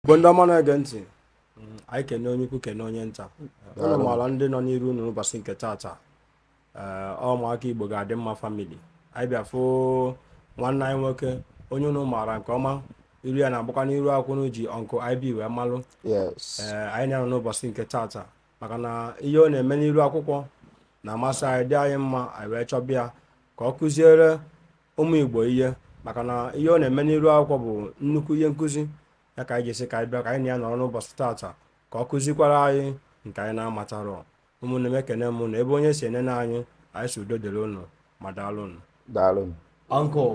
bụ ndị ọma na-ege ntị mm, anyị kene onye ukwu kene onye nta unu maara ndị nọ n'iru unu n'ụbọchị nke taata eh, ụmụaka igbo ga-adị mma family anyị bịa fụ nwanne anyị nwoke onye unu maara nke ọma iru ya na-agbakwa n'iru akwụkwọ unu ji Uncle IB wee malụ eh, anyị na ya nọ n'ụbọchị nke taata maka na ihe ọ na-eme n'iru akwụkwọ na-amasị anyị dị anyị mma anyị wee chọbịa ka ọ kụziere ụmụ igbo ihe maka na ihe ọ na-eme n'iru akwụkwọ bụ nnukwu ihe nkụzi ya ka anyị ji sị ka anyị bịa ka anyị na ya nọrọ n'ụbọchị taata ka ọ kụzikwara anyị nke anyị na-amatarọ ụmụnne m ekene m unu ebe onye si enene anyị anyị sị udo dịrị ụnụ ma daalụ ụnụ daalụ Uncle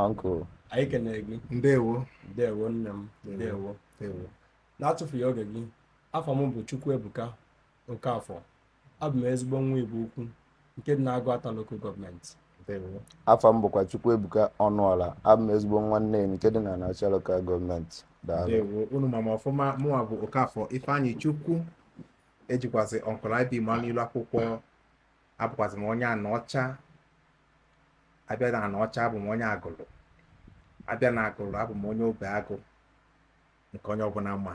Uncle anyị ekene gị ndewo ndewo nne m ndewo n'atụfughị oge gị afa m bụ Chukwuebuka Okafor abụ m ezigbo nwa Igbo-Ukwu nke dị na Aguata local government afa m bụkwa Chukwuebuka Ọnụọla abụ m ezigbo nwa Neni nke dị na Anaọcha local government unu ma m ọfụma mụnwa bụ Okafor Ifeanyichukwu e jikwazị Uncle IB ma n'ilu akwụkwọ abụkwazị m onye Anaọcha a bịa na Anaọcha abụ m onye Agụlụ a bịa na Agụlụ abụ m onye Obeagụ nke onye ọbụla ma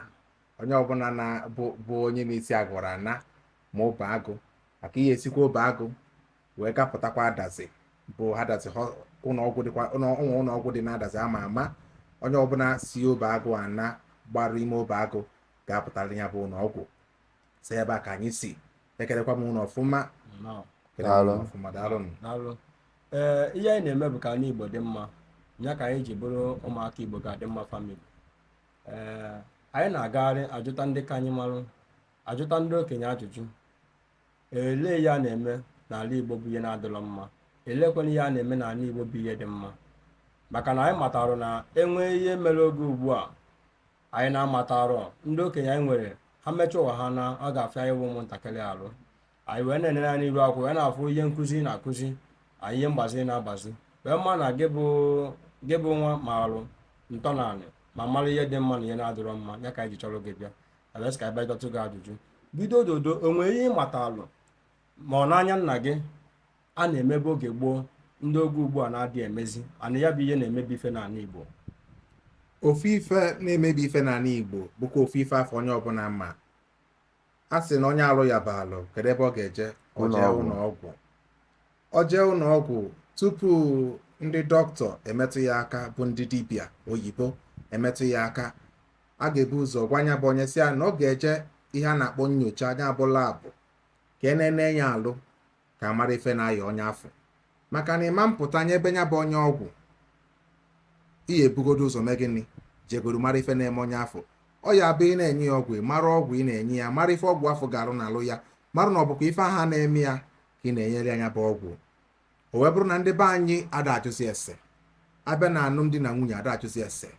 onye ọbụna bụ onye na-esi Agụlụ ana ma Obeagụ maka ihe e sikwa Obeagụ wee gapụtakwa Adazi bụ Adazi ụlọọgwụ dịkwa ụmụ ụlọọgwụ dị na Adazi ama ama onye ọbụla si Obeagụ ana gbaru ime Obeagụ ga-apụta ya bụ ụlọọgwụ so ebe a ka anyị si ekelekwa m unu ọfụma ee eh, ihe anyị na-eme bụ ka ana igbo dị mma ya ka anyị ji bụrụ ụmụaka igbo ga-adị mma family ee anyị na-agagharị ajụta ndị ka anyị marụ ajụta ndị okenye ajụjụ elee ihe a na-eme n'ala igbo bụ ihe na-adịrọ mma elekwana ihe a na-eme n'ala igbo bụ ihe dị mma maka na anyị matarụ na e nwee ihe mere oge ugbu a anyị na-amatarọ ndị okenye anyị nwere ha mechaa ụwa ha na ọ ga-afịa anyịnwa ụmụntakịrị alụ anyị wee na-enere anya iru akwụkwọ wee na-afụ ihe nkụzi ị na-akụzi anyị ihe mgbazi ị na-agbazi wee ma na gị bụ gị bụ nwa malụ ntọnanị ma mara ihe dị mma na ihe na-adịrọ mma ya ka anyị ji chọrọ gị bịa abịa sị ka anyị bịa jụtụ gị ajụjụ biko dodo o nwere ihe ị matalụ ma ọ n'anya nna gị ha na-emebe oge gboo ndị oge ugbu a na-adị emezi and ya bụ ihe na-emebi ife n'ala Igbo ofu ife na-emebi ife n'ala Igbo bụkwa ofu ife afụ onye ọbụla ma a sị na onye alụ yaba alụ kedu ebe ọ ga-eje ọ jee Ụlọọgwụ. ụlọ ọgwụ ọ jee ụlọ ọgwụ tupu ndị dọkịta emetụ ya aka bụ ndị dibịa oyibo emetụ ya aka a ga-ebu ụzọ gwa ya bụ onye sị ya na ọ ga-eje ihe a na-akpọ nyocha nya bụ lab ka e nene ya alụ ka a mara ife na-aya onye afụ maka na ị ma mpụta nyebe nya bụ onye ọgwụ ị ya-ebugodo ụzọ mee gịnị jegodo mara ife na-eme onye afụ ọ ya bụ ị na-enye ya ọgwụ mara ọgwụ ị na-enye ya mara ife ọgwụ afụ ga-arụ n'arụ ya mara na ọ bụkwa ife ahụ na-eme ya ka ị na-enyere nya bụ ọgwụ o wee bụrụ na ndị be anyị ada ajụzi ese a bịa na alụmdi na nwunye ada ajụzi ese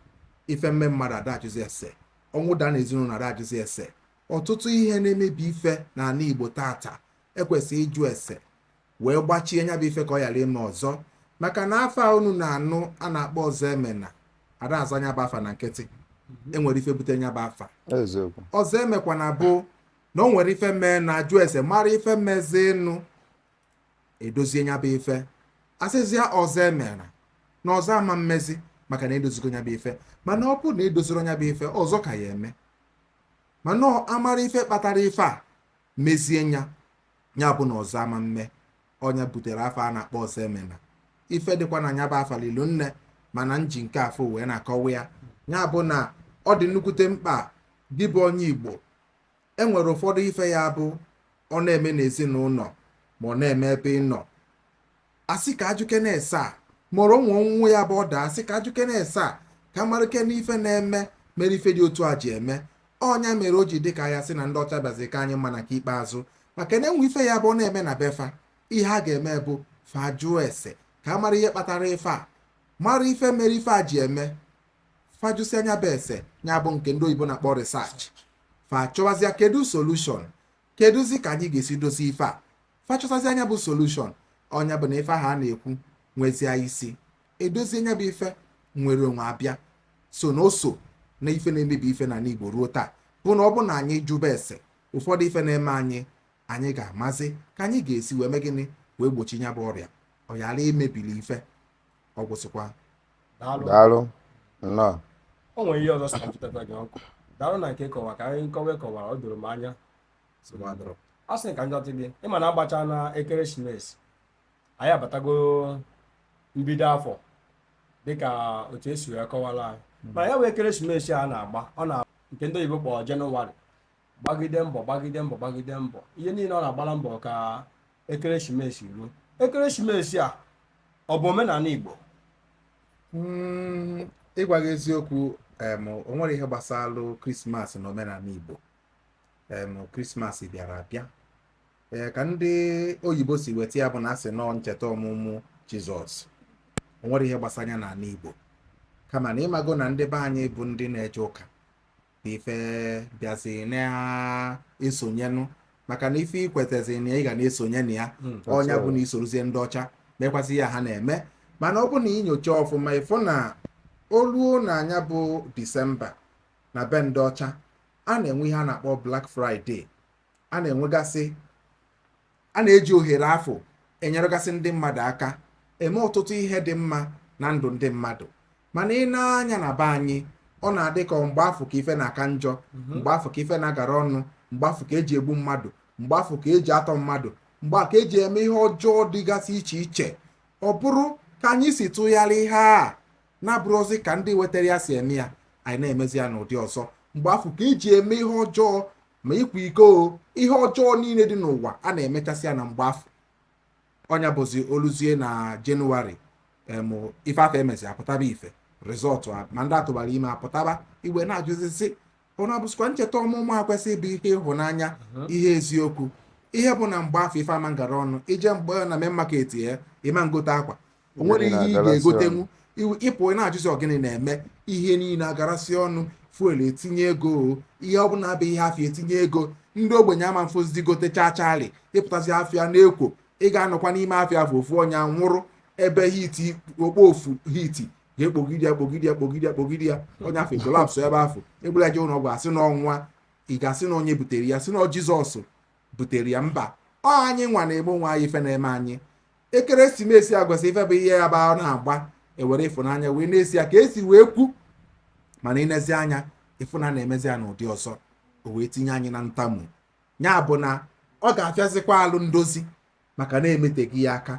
ife mee mmadụ ada ajụzi ese ọnwụ daa na ezinụlọ ada ajụzi ese ọtụtụ ihe na-emebi ife n'ani Igbo taata e kwesịrị ịjụ ese wee gbachie nya bụ ife ka ọ ghara ime ọzọ maka na afa a unu na-anụ a na-akpọ Ọzọemena ada aza nya bụ afa na nkịtị e nwere ife bute nya bụ afa eziokwu ọzọ emekwana bụ na o nwere ife menụ a jụọ ese mara ife mezịnụ e dozie nya bụ ife a sịzịa ọzọ emena na ọzọ ama mmezi maka na e dozigo nya bụ ife mana ọ bụrụ na e dozirọ nya bụ ife ọzọ ka ya-eme mana ọ a mara ife kpatara ife a mezie nya nya bụ na ọzọ ama mme ọ nya butere afa a na-akpọ Ọzọemena ife dịkwa na nya bụ afa lili nne mana m ji nke afụ wee na-akọwa ya ya bụ na ọ dị nnukwute mkpa gị bụ onye igbo e nwere ụfọdụ ife ya bụ ọ na-eme n'ezinụlọ ma ọ na-eme ebe ị nọ a sị ka a jụkene ese a mụrụ nwa ọ nwụọ ya bụ ọ daa a sị ka a jụkene ese ka a marakene ife na-eme mere ife dị otu a ji eme ọ nya mere o ji dị ka a ya-asị na ndị ọcha bịazi ka anyị mma na ke ikpeazụ maka na e nwee ife ya bụ na-eme na be fa ihe a ga-eme bụ fa jụọ ese ka a mara ihe kpatara ife a mara ife mere ife a ji eme fa jụsịa nya bụ ese ya bụ nke ndị oyibo na-akpọ research fa chọwazịa kedu solushon kedụzi ka anyị ga-esi dozi ife a fa chọtazia nya bụ solushọn ọ nya bụ na ife ahụ a na-ekwu nwezie isi edozie nya bụ ife nwere onwe abịa so na oso na ife na-emebi ife n'ani Igbo ruo taa bụ na ọ bụ na anyị jụba ese ụfọdụ ife na-eme anyị anyị ga-amazi ka anyị ga-esi wee mee gịnị wee gbochi nya bụ ọrịa ọ ghara imebili ife ọ gwụsịkwa daalụ daalụ nnọọ o nwere ihe ọzọ sị ka m chịtata gị ọkụ daalụ na nke kọwa ka anyị nkọwa kọwara ọ doro m anya nsogbu adịrọ a sị ka m jụtụ gị ị ma na a gbacha na ekeresimesi anyị abatago mbido afọ dịka otu esi wee kọwara anyị mana ya wee ekeresimesi a na-agba ọ na nke ndị oyibo kpọrọ jenụwarị gbagide mbọ gbagide mbọ gbagide mbọ ihe niile ọ na-agbara mbọ ka ekeresimesi ruo ekeresimesi a ọ bụ omenani igbo hmm, ịgwa gị eziokwu o nwerọ ihe gbasara krismas na omenani igbo krismas bịara abịa ee ka ndị oyibo si weta ya bụ na a sị nọọ ncheta ọmụmụ jizọs o nwerọ ihe gbasara ya n'ani igbo kama na ị mago na ndị be anyị bụ ndị na-eje ụka na ife bịazi na-esonyenụ maka na ife i kwetazi na ị ga na-esonye na ya hmm, ọ nya bụ na i sorozie ndị ọcha mekwasị ihe ha na-eme mana ọ bụ na i nyochaa ọfụma ị fụ na o luo na nya bụ disemba na be ndị ọcha a na-enwe ihe a na-akpọ Black Friday a na-enwegasị a na-eji ohere afụ enyeregasị ndị mmadụ aka eme ọtụtụ ihe dị mma na ndụ ndị mmadụ mana i nee anya na be anyị ọ na-adị ka mgbe afụ ka ife na-aka njọ mhm. mgbe afụ ka ife na-agara ọnụ mgbe afụ ka e ji egbu mmadụ mgbe afụ ka e ji atọ mmadụ mgbe ka e ji eme ihe ọjọọ dịgasị iche iche ọ bụrụ ka anyị si tụgharịa ihe a na-abụrọzi ka ndị wetara ya si eme ya anyị na-emezi ya n'ụdị ọzọ mgbe afụ ka e ji eme ihe ọjọọ ma ịkwa iko ihe ọjọọ niile dị n'ụwa a na-emechasị ya na mgbe afụ ọ nya bụzi o luzie na jenụwarị ife afụ e mezi apụtaba ife result ma ndị a tụbara ime apụtaba i wee na-ajụzi sị ọ na-abụzịkwa ncheta ọmụmụ a kwesị ịbụ ihe ịhụnanya mhm. ihe eziokwu ihe bụ na mgbe afụ ife ama ngara ọnụ i je mgbe na Main Market ị ma ngote akwa o nwerọ ihe ị ga-egotenwu ị pụ ị na-ajụzi ọ gịnị na-eme ihe niile agarasị ọnụ fuel etinye ego ihe ọ bụla bụ ihe afịa etinye ego ndị ogbenye ama mfụzi gote chaa chaali ị pụtazi afịa na-ekwo ị ga-anọkwa n'ime afịa afụ ofu onye nwụrụ ebe heat okpofufu heat ga-ekpogide ya kpogide ya kpogide ya kpogide ya onye afụ collapse ebe afụ e bulu ya je ụlọ ọgwụ a sị na ọ nwụa ị ga-asị na onye butere ya sị na jizọs butere ya mba ọ anyị nwa na-eme onwe anyị ife na-eme anyị ekeresimesi a kwesị ife bụ ihe ya bụ a na-agba e were ịfụnanya wee na-esi ya ka e si wee kwu mana i nezie anya ị fụ na a na-emezi ya n'ụdị ọzọ o wee tinye anyị na ntamu ya bụ na ọ ga-afịazikwa alụ ndozi maka na e metụghị ya aka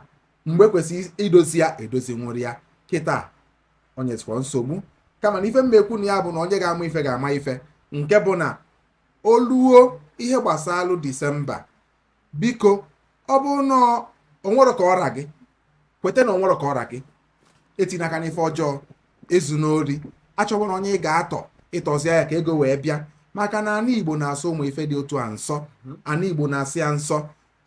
mgbe kwesịrị idozi ya edozi nwụrụ ya kịta onye tụkwa nsogbu kama na ife m na-ekwu na ya bụ na onye ga-ama ife ga-ama ife nke bụ na o luo ihe gbasara disemba biko ọ bụrụ na o nwerọ ka ọ ra gị kweta na o nwerọ ka ọ ra gị etinyena aka n'ife ọjọọ ezuna ori achọwana onye ị ga-atọ ị tọzi ya ka ego wee bịa maka na ana igbo na-asọ ụmụ ife dị otu a nsọ mhm. ana igbo na-asọ ya nsọ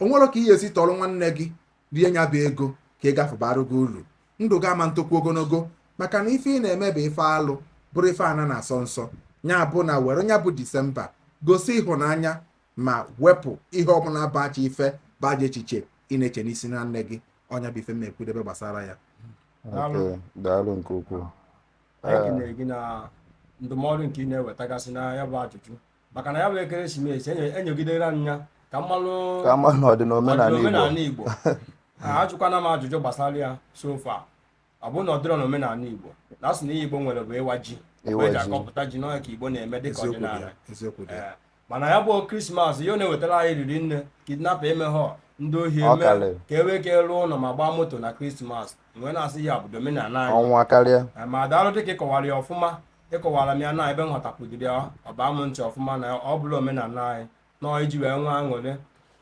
o nwerọ ka ị ya-esi tọrọ nwanne gị rie nya bụ ego ka ọ ga-abara gị uru ndụ gị ama ntokwu ogologo maka na ife ị na-eme bụ ife alụ bụrụ ife ana na-asọ nsọ nya bụ na were nya bụ disemba gosi ịhụnanya ma wepụ ihe ọ bụla bụ ajọ ife bụ ajọ echiche ị na-eche n'isi nwanne gị ọ nya bụ ife m na-ekwudebe gbasara ya daalụ nke ukwuu anyị kenere gị na ndụmọdụ nke ị na-ewetagasị na ya bụ ajụjụ maka na ya bụ ekeresimesi e nyegidere anyị ya ka mmanụ ọ dị n'omenala Igbo ajụkwana m ajụjụ gbasara ya so far ọ bụrụ na ọ dịrọ n'omenala Igbo na asị na ihe Igbo nwere bụ ịwa ji mgbe eji akọpụta ji n'ọhịa ka Igbo na-eme dịka ọdịnala eh, mana ya bụ krismas ihe ọ na-ewetara anyị riri nne kidnapper emeghọ ndị ohi eme ka e wee ka rụọ ụlọ ma gbaa moto na krismas mgbe na-asị ya bụ omenala anyị eh, ma daalụ dịka ịkọwara ya ọfụma ịkọwara m ya na ebe nghọtapụdiri ya ọ baa m ntị ọfụma na ọ bụla omenala anyị na iji wee nwee aṅụrị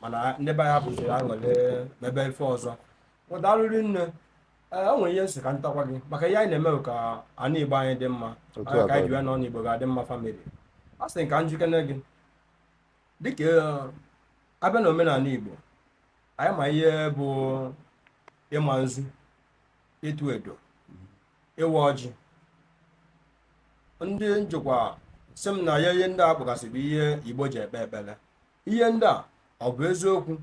mana ndị be anyị hapụziri aṅụrị mebe ife ọzọ ụdarịrị nne ee o nwere ihe nsị ka ntakwa gị maka ihe anyị na-eme bụ ka ana igbo anyị dị mma Otu anyị a ka anyị ka ọ ji ya na ana igbo ga-adị mma family a sị ka njụkene gị dịka eh, abịa na omenala igbo anyị ma ihe bụ ịma nzu ịtụ edo ịwa ọjị ndị njụkwa sị m na ya ihe ndị a kpọgasị bụ ihe igbo ji ekpe ekpere ihe ndị a ọ bụ eziokwu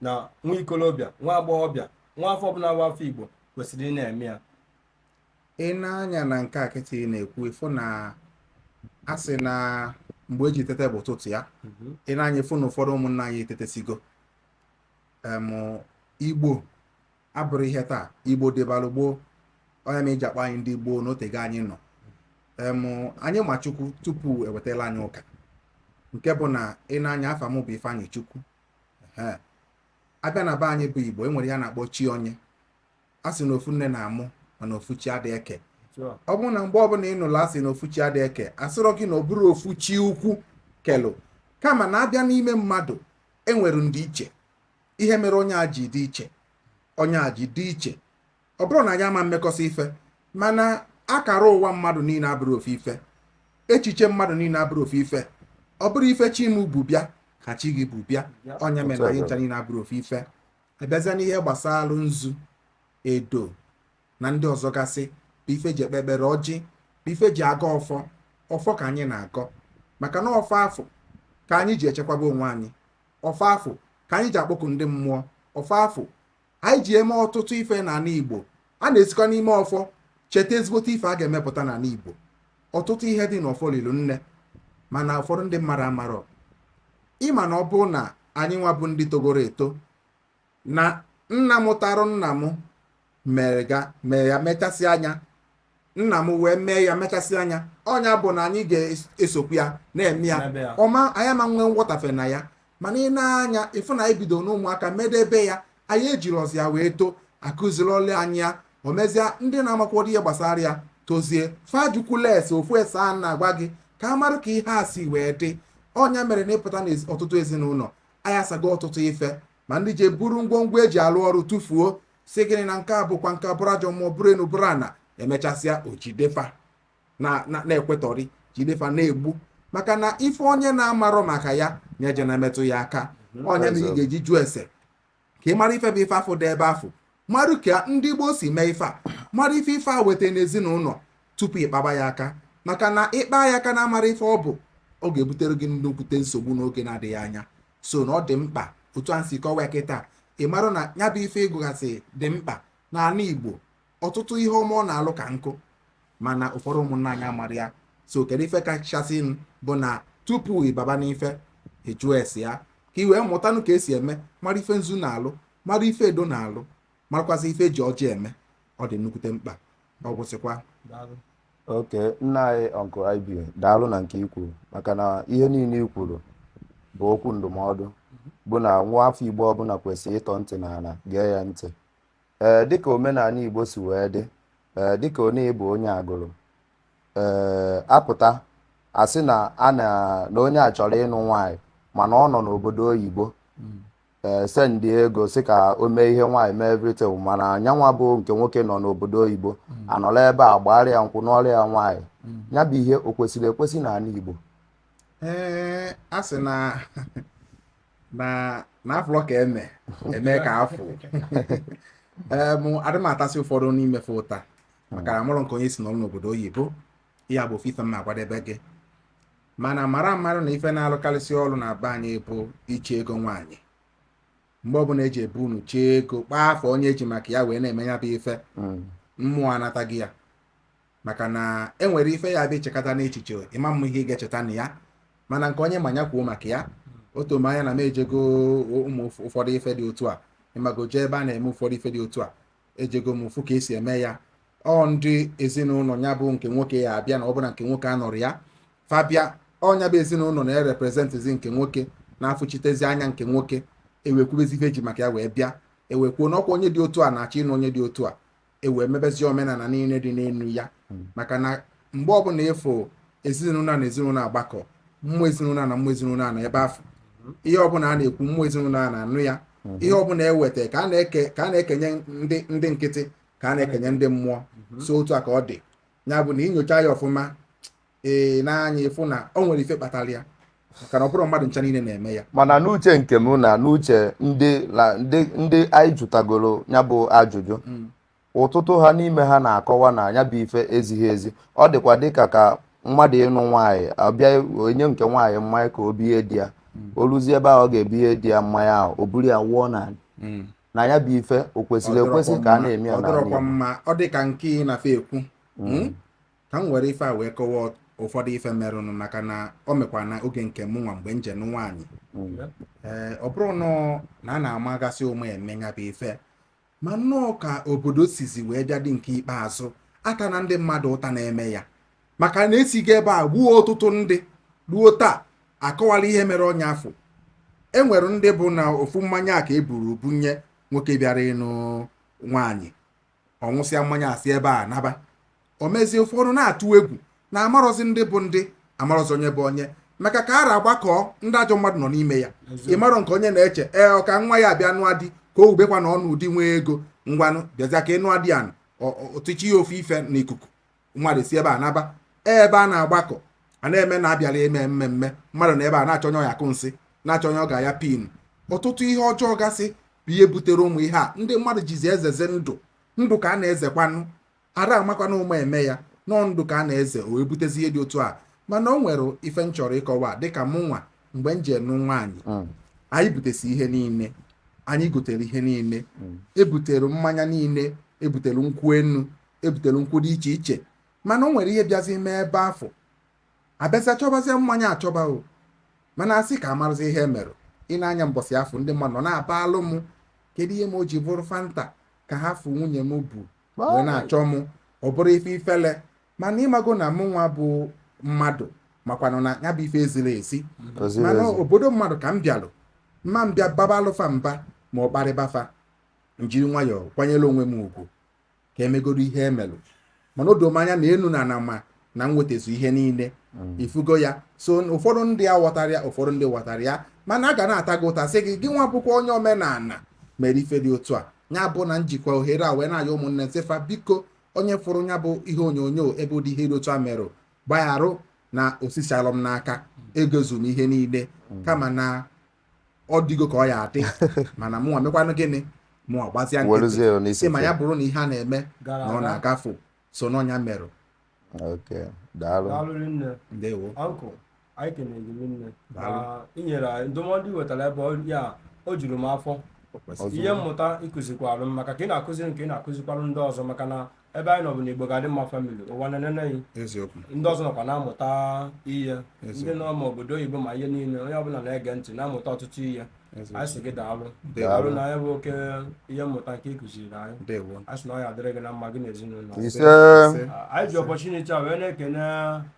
na nwa ikolobịa nwa agbọghọbịa nwa afọ ọbụla nwa afọ igbo kwesịrị ịna-eme ya i nee anya na nke a kịta ị na-ekwu ị fụ na a sị na mgbe eji tete bụ ụtụtụ ya mhm. i nee anya ị fụ na ụfọdụ ụmụnna anyị etetesigo igbo abụrọ ihe taa igbo dịbalụ gboo ọ nya mere eji akpọ anyị ndị gboo na o tego anyị nọ anyị ma chukwu tupu ewetala anyị ụka nke bụ na i nee anya afa m bụ Ifeanyịchukwu abịa na be anyị bụ igbo e nwere ihe a na-akpọ chi onye a sị na ofu nne na-amụ mana ofu chi adịghị eke ọ bụrụ na mgbe ọbụla ị nụrụ asị na ofu chi adịghị eke asịrọ gị na ọ bụrọ ofu chi ukwu kelụ kama na abịa n'ime mmadụ enwere ndịiche ihe mere onye a ji dị iche onye a ji dị iche ọ bụrọ na anyị ama mmekọsị ife mana akara ụwa mmadụ niile abụrọ ofu ife echiche mmadụ niile abụrọ ofu ife ọ bụrọ ife chi m bu bịa ka chi gị bu bịa ọ nya mere na anyị ncha niile abụrọ ofu ife abịazịa n'ihe gbasara nzu edo na ndị ọzọ gasị bụ ife eji ekpe ekpere ọjị bụ ife eji agọ ọfọ ọfọ ka anyị na-agọ maka na ọfọ afụ ka anyị ji echekwaba onwe anyị ọfọ afụ ka anyị ji akpọku ndị mmụọ ọfọ afụ anyị ji eme ọtụtụ ife n'ana igbo a na-esikwa n'ime ọfọ cheta ezigbote ife a ga-emepụta n'ana igbo ọtụtụ ihe dị n'ọfọ lilu nne mana ụfọdụ ndị mmadụ amarọ ị ma na ọ bụrụ na anyị nwa bụ ndị togoro eto na nna mụtarụ nna m mere ga mee ya mechasịa nya nna m wee mee ya mechasịa nya ọ nya bụ na anyị ga-esokwu ya na-eme ya ọma anyị ama nwee nghọtafe na ya mana i nee anya ị fụ na anyị bido n'ụmụaka medebe ya anyị ejirọzi ya wee too akụzirọlụ anyị ya o mezie ndị na-amakwado ihe gbasara ya tozie fa dịkwu less ofu ese a na-agwa gị ka a mara ka ihe a si wee dị ọ nya mere na ị pụta n'ọtụtụ ezinụlọ anyị asago ọtụtụ ife ma ndị je buru ngwongwo eji alụ ọrụ tụfuo sị gịnị na nke a bụkwa nke abụrụ ajọ mmụọ bụrụ enu bụrụ ana e mechasịa o jide fa na-ekwutọrị jide fa na-egbu maka na ife onye na-amarọ maka ya na-eje na-emetụ ya aka mhm. onye na ị ga-eji jụọ ese ka ị mara ife bụ ife afụ dị ebe afụ marụ ka ndị gboo si mee ife a mara ife ife a weta n'ezinụnọ tupu ị kpaba ya aka maka na ị kpaa ya aka na-amarọ ife ọ bụ ọ ga-ebutere gị nnukwute nsogbu n'oge na-adịghị anya so na ọ dị mkpa otu a si kọwaa kịta ị marụ na nya bụ ife ị gụgasị dị mkpa n'ana Igbo ọtụtụ ihe ọmụ na-alụ ka nkụ mana ụfọdụ ụmụnna anyị amarọ ya so kedu ife kachasị bụ na tupu ị baba n'ife ịjụ ese ya ka ị wee mụtanụ ka e si eme mara ife nzu na-alụ mara ife edo na-alụ marakwazi ife e ji ọjị eme ọ dị nnukwute mkpa ọ gwụsịkwa okay nna anyị uncle IB daalụ na nke ikwuru maka na ihe niile i kwuru bụ okwu ndụmọdụ bụ na nwa afọ igbo ọbụla kwesịrị ịtọ ntị n'ala gee ya ntị ee dịka omenanị Igbo si wee dị ee dịka onye ịbụ onye agụrụ ee a pụta sị na a na na onye a chọrọ ịnụ nwaanyị mana ọ nọ n'obodo oyibo ee sendị ego sị ka o mee ihe nwaanyị mee everything mana nya nwa bụ nke nwoke nọ n'obodo oyibo a nọrọ ebe a gbaara ya nkwụ nụọrọ ya nwaanyị nya bụ ihe o kwesịrị ekwesị n'anị Igbo ee a sị na mana a fụlụ ka eme eme ka afụ adị m atasị ụfọdụ n'ime fa ụta maka na marọ ka onye si nọrọ n'obodo oyibo ya bụ ofe ife m na-akwadebe gị mana mara marụ na ife na-alụkarịsị ọrụ na be anyị bụ iche ego nwaanyị mgbe ọbụna e ji ebu unu chee ego kpọọ afa onye e ji maka ya wee na-eme ya bụ ife mmụọ anataghị ya maka na e nwere ife ya-abụ i chekata nya echiche ị ma-ama ihe ị ga-echeta na ya mana nke onye ma nya kwuo maka ya ọ tụ m anya na m ejego ụmụ ụfọdụ ife dị otu a ị mago jee ebe a na-eme ụfọdụ ife dị otu a ejego m fụ ka e si eme ya ọ ndị ezinụlọ ya bụ nke nwoke ya-abịa na ọ bụrụ na nke nwoke anọrọ ya fa bịa ọ nya bụ ezinụlọ na-ereprezentịzi nke nwoke na-anọchitezi anya nke nwoke e wee kwubezie ife e ji maka ya wee bịa e wee kwuo na ọ kwa onye dị otu a na-achọ ịnụ onye dị otu a e wee mebezie omenana niine dị n'elu ya hmm. maka na mgbe ọbụna ị fụ ezinụlọ na ezinụlọ agbakọ mmụọ ezinụlọ na mmụọ ezinụlọ anọ ebe afụ hmm. ihe ọbụna a na-ekwu mmụọ ezinụlọ na-anụ ya hmm. ihe ọbụna e weta ka a na-ekenye ndị nkịtị ka a na-ekenye ndị mmụọ so otu a ka ọ dị ya bụ na i nyochaa ya ọfụma ee n'anya ịfụ na o nwere ife kpatara ya maka na ọ bụrọ mmadụ ncha niile na-eme ya mana n'uche nke m na n'uche ndị na ndị ndị anyị jụtagoro ya bụ ajụjụ Mm. ọtụtụ ha n'ime ha na-akọwa na ya bụ ife ezighị ezi ọ dịkwa dịka ka mmadụ ịnụ nwaanyị a bịa nye nke nwaanyị mmanya ka o binye di ya o ruzie ebe ahụ ọ ga-ebinye di ya mmanya ahụ o buru ya wụọ na Mm. na ya bụ ife o kwesịrọ Ọ dịrọkwa ekwesị ka a mma- na-eme ya ọ n'ala dịrọkwa Igbo. mma ọ dị ka nke ị na-afe ekwu Mm. ka m were ife a wee kọwaa ụfọdụ ife merụnụ maka na o mekwa na oge nke mụ nwa mgbe m je ịnụ nwaanyị ee ọ bụrọnụ na a na-amagasị ụma eme ya bụ ife ma nnọọ ka obodo sizi wee bịa dị nke ikpeazụ atana ndị mmadụ ụta na-eme ya maka na e sigo ebe a gbuo ọtụtụ ndị ruo taa akọwala ihe mere onye afụ e nwere ndị bụ na ofu mmanya a ka e buru bunye nwoke bịara ịnụ nwaanyị ọ ṅụsịa mmanya a si ebe a naba o mezie ụfọdụ na-atụ egwu na amarọzi ndị bụ ndị amarọzi onye bụ onye maka ka ọra agbakọọ ndị ajọ mmadụ nọ n'ime ya ị marọ nke onye na-eche ee ọ ka nwa ya bịa nụọ di ka o wubekwa na ọ nụọ di nwee ego ngwanụ bịazịa ka ị nụọ di anụ ọ tụchie ya ofu ife n'ikuku mmadụ si ebe a naba ebe a na-agbakọ a na-eme na a bịara eme mmemme mmadụ nọ ebe a na-achọ onye ọ ya-akụ nsị na-achọ onye ọ ga-aya pin ọtụtụ ihe ọjọọ gasị bụ ihe butere ụmụ ihe a ndị mmadụ jizi ezezi ndụ ndụ ka a na-ezekwanụ ada amakwanụ ụma eme ya na ọ ndụ ka a na-eze o wee butezi ihe dị otu a mana o nwere ife m chọrọ ịkọwa dịka mụ nwa mgbe m je ịnụ nwaanyị hmm. anyị butesịa ihe niile anyị gotere ihe niile hmm. ebutere mmanya niile ebutere nkwụ enu ebutere nkwụ dị iche iche mana o nwere ihe bịazi mee ebe afụ a bịazie chọbazie mmanya achọba o mana asị ka amarọzi ihe mere ị na-anya mbọsị afụ ndị mmadụ nọ na-abalụ m kedu ihe m o ji bụrụ fanta ka ha fụ nwunye m bu wee na-achọ m ọ bụrụ ife ifele mana ịmago na mụ nwa bụ mmadụ makwanụ na ya bụ ife ezirọ ezi mana obodo mmadụ ka m bịalụ ama m bịa babalụ fa mba ma ọ kparịba fa m jiri nwayọọ kwanyere onwe m ugwu ka emegoro ihe emelụ mana o do m anya na enu na ana ma na m wetazu ihe niile mm. ị fụgo ya so ụfọdụ ndị aghọtarọ ya ụfọdụ ndị ghọtara ya mana a ga na-ata gị ụta sị gị gị nwa bụkwa onye omenala mere ife dị otu a ya bụ na m jikwa ohere a wee na-ayọ ụmụnne m sị fa biko onye fụrụ ya bụ ihe onyonyo ebe ụdị ihe dị otu a merụ gbagharụ na o sisirọ m n'aka egozu m ihe niile mm. kama na ọ dịgo ka ọ ya-adị mana mụnwa mekwanụ gịnị mụnwa gbazia nkịtị sị ma ya bụrụ na ihe a na-eme na ọ na-agafe so na ọ ya merụ ndewo anyị kenere gị na i nyere anyị ndụmọdụ i wetara ebe a o juru m afọ ihe mmụta ị kụzikwara m maka ka ị na-akụziri m ka ị na-akụzikwara ndị ọzọ maka na ebe anyị nọ bụ na igbo ga-adị mma famili ụwa na-enene anyị eziokwu ndị ọzọ nọkwa na-amụta ihe ndị eziokwu nọ ma obodo oyibo ma ihe niile onye ọbụla na-ege ntị na-amụta ọtụtụ ihe eziokwu anyị sị gị daalụ Daalụ. daalụ na ya bụ oke ihe mmụta nke ị kụziri anyị ndewo anyị sị na ọ ya adịrị gị na mma gị na ezinụlọ gị. isee anyị ji ọpọchuniti a wee na-ekene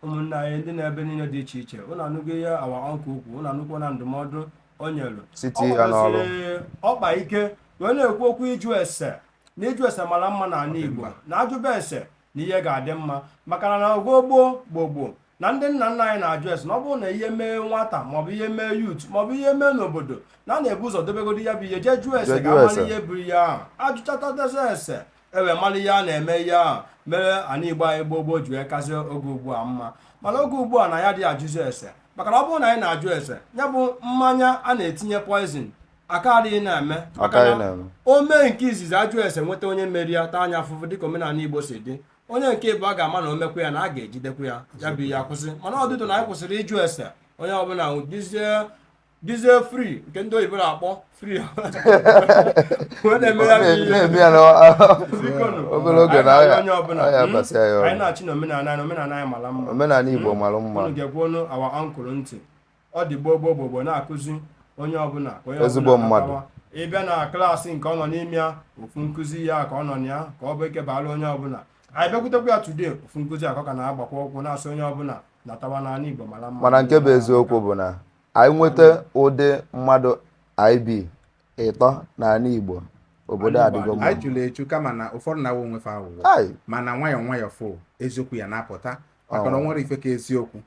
ụmụnna anyị ndị nọ ebe niile dị iche iche ụnụ anụgo ihe awa ọnkụl kwuru ụnụ anụkwo na ndụmọdụ o nyere Site Ọ ya n'ọrụ. gbakwaziri ọkpa ike wee na-ekwu okwu ịjụ ese na ịjụ ese mara mma n'ala Igbo na a jụba ese na ihe ga-adị mma maka na n'oge gboo gboo gboo na ndị nna nna anyị na-ajụ ese na ọ bụrụ na ihe mee nwata maọbụ ihe mee yut maọbụ ihe mee n'obodo na a na-ebu ụzọ dobegodi ya bụ ihe jee jụọ ese ka a mara ihe buru ya ahụ a jụchatasịa ese e wee mara ihe a na-eme ihe ahụ mere ana igbo anyị gboo gboo ji wee kazie oge ugbu a mma mana oge ugbu a na anyị adị ajụzi ese maka na ọ bụrụ na anyị na-ajụ ese ya bụ mmanya a na-etinye poizin akaraghị na-eme maka na o mee nke izizi a jụọ ese nweta onye mere ya taa nya afụfụ dịka omenala igbo si dị onye nke ịbụa ga-ama na o mekwaa ya na a ga-ejidekwa ya ya bụ ihe akwụsị mana ọdịdụ na anyị kwụsịrị ịjụ ese onye ọbụla dịzie fri nke ndị oyibo na-akpọ fri anyị naghachi n'omenala anyị omenala anyị mara mma omenala igbo mara mma geekwanụ awa ọnkụl ntị ọ dị gboo gboo gboo na-akụzi onye ọbụla ka onye ezigbo mmadụ ị bịa na klaasị nke ọ nọ n'ime ya ofu nkụzi ya ka ọ nọ na ya ka ọ bụ nke baara onye ọbụla anyị bịakwutekwa ya tude ofu nkụzi ahụ ka ọ na-agbakwa ụkwụ na-asị onye ọbụla natawa na ala Igbo mara mma mana nke bụ eziokwu bụ na anyị nweta ụdị mmadụ ị bụ ịtọ n'ala Igbo obodo adịgo mma anyị juru eju kama na ụfọdụ na-aghọ onwe fa aghụghọ mana nwayọọ nwayọọ fụ eziokwu ya na-apụta maka na o nwerọ ife ka eziokwu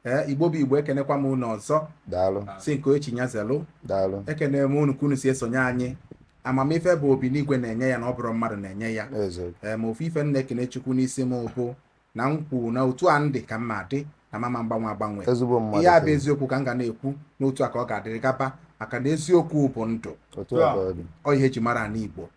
ee igbo bụ igbo ekenekwa m unu ọzọ daalụ si nke chi nya zelu daalụ ekene m unu ka unu si esonye anyị amamife bụ obi n'igwe na-enye ya na ọ bụrọ mmadụ na-enye ya ee ma ofu ife m na-ekene chukwu n'isi m bụ na m kwuru na otu a m dị ka m ma-adị na m ama agbanwe agbanwe ihe a bụ eziokwu ka m ga na-ekwu na otu a ka ọ ga-adịrị gaba maka na eziokwu bụ ndụ ọ ihe e ji mara ana igbo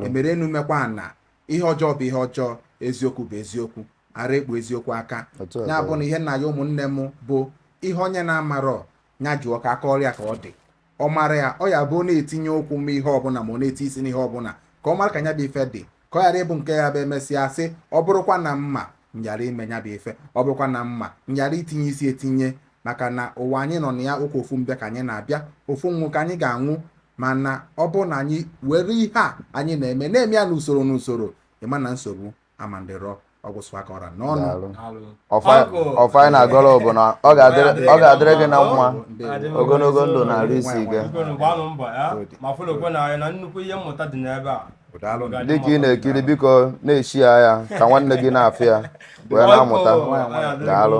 e mere enu mekwaa ana ihe ọjọọ bụ ihe ọjọọ eziokwu bụ eziokwu ara ekpu eziokwu aka ya bụ na ihe m na-ayọ ụmụnne m bụ ihe onye na-amarọ ya jụọ ka a kọọrọ ya ka ọ dị ọ mara ya ọ ya bụ na-etinye ụkwụ n'ihe ọbụla ma ọ na-etinye isi n'ihe ọbụla ka ọ mara ka nya bụ ife dị ka ọ ghara ịbụ nke ya bụ e mesịa sị ọ bụrụkwa na m ma nyara ime nya bụ ife ọ bụrụkwa na m ma nyara itinye isi etinye maka na ụwa anyị nọ na ya ụka ofu mbịa ka anyị na-abịa ofu nwụ ka anyị ga-anwụ mana ọ bụ na anyị were ihe a anyị na-eme na-eme ya n'usoro n'usoro ị ma na nsogbu amandịrọ ọ gwụsịa ka ọ ra n'ọnụ ọfọ anyị na-agọrọ bụ na ọ ga-adịrị gị na mma ogologo ndụ na arụ isi ike dịka ị na-ekiri biko na-share ya ka nwanne gị na-afụ ya wee na-amụta daalụ